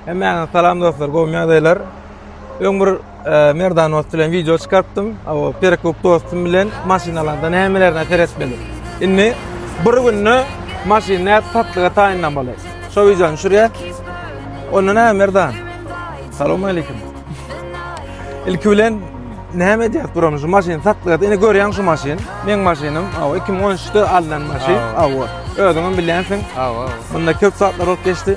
Hemmäňize salam dostlar, gowmy ýagdaýlar? Öň bir e, Merdan dost bilen wideo çykarypdym. O Perekup dostum bilen maşynalarda nämelerine seretmeli. Indi bir günde maşyn näp satlyga taýynlamaly. Şo wideony düşürýär. Onda näme Merdan? Salam aleyküm. Ilki bilen näme edýäs buram şu maşyn satlyga? Indi görýäň şu maşyn. Meň maşynym, aw 2013-de alnan maşyn. Aw. Aw. Özüňem bilýänsiň. Aw, aw. Bunda köp zatlar bolup geçdi.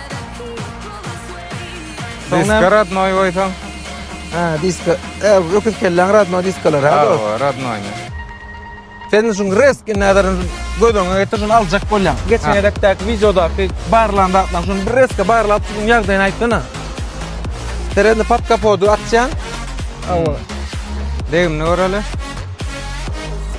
Diska radnoý goýsaň. Ha, diska. E, öküz kelläň radnoý diskalar ha. Ha, radnoý. Sen şun reski näderin gözüňe getir, şun aljak bolýan. Geçen edekdäki wideodaky barlan zatlaryň şun bir reski barlap şun ýagdaýyny aýtsana. Seredini pat kapodu atýan. Awa. Degimini göreli.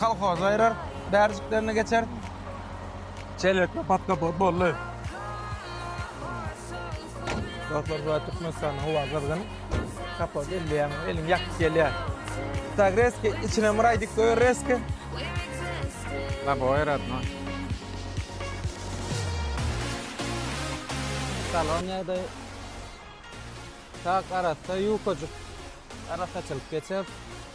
Kolhoz aýrar, bärjiklerini geçer. Çelekde pat-da-pat boldy. Dostlar, bu Türkmenistanyň howa gyzgyn. Kapoz elleýäň, eliň ýakyp gelýär. Tak rezki, içine myraý dik goýar rezki. Labo aýratma. Salon ýagdaýy tak arassa, ýukajyk. Arassaçylyk geçer.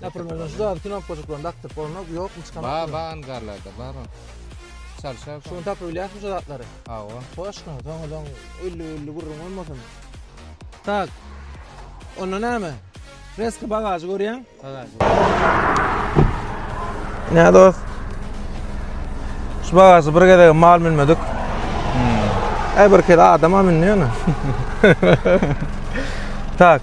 Напримir, şu zady knopkajyklaryny dakdyryp bolanok, ýokmy çykan? Bar, bar angarlarda bar ol. Çalşar. Şuny tapyp bilýärsiňmi şu zatlary? Hawa. Hoşka, soň ozaň ölli-ölli gürrüň bolmasyn. Tak. Onda näme? Reski bagažy görýäň? Bagaž. Ne dost? Şu bagažy bir gezegem mal münmedik. Äý bir kere adama mündi ýöne. Tak.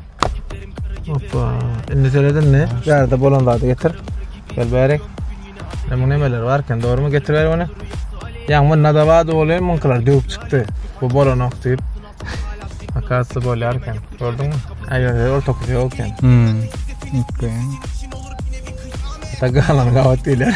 Hoppa. Indi seredin mi? Ýerde bolan zady getir. Gel bäri. Ne bu nemeler bar eken? Dogrymy getir bäri bunu. Ýa bu nadawa doly munkylar döwüp çykdy. Bu bolanok diýip. Akasy bolýar eken. Gördüňmi? Aýa, orta kutu ýok eken. Hmm. Okey. Tagalan gawat diýler.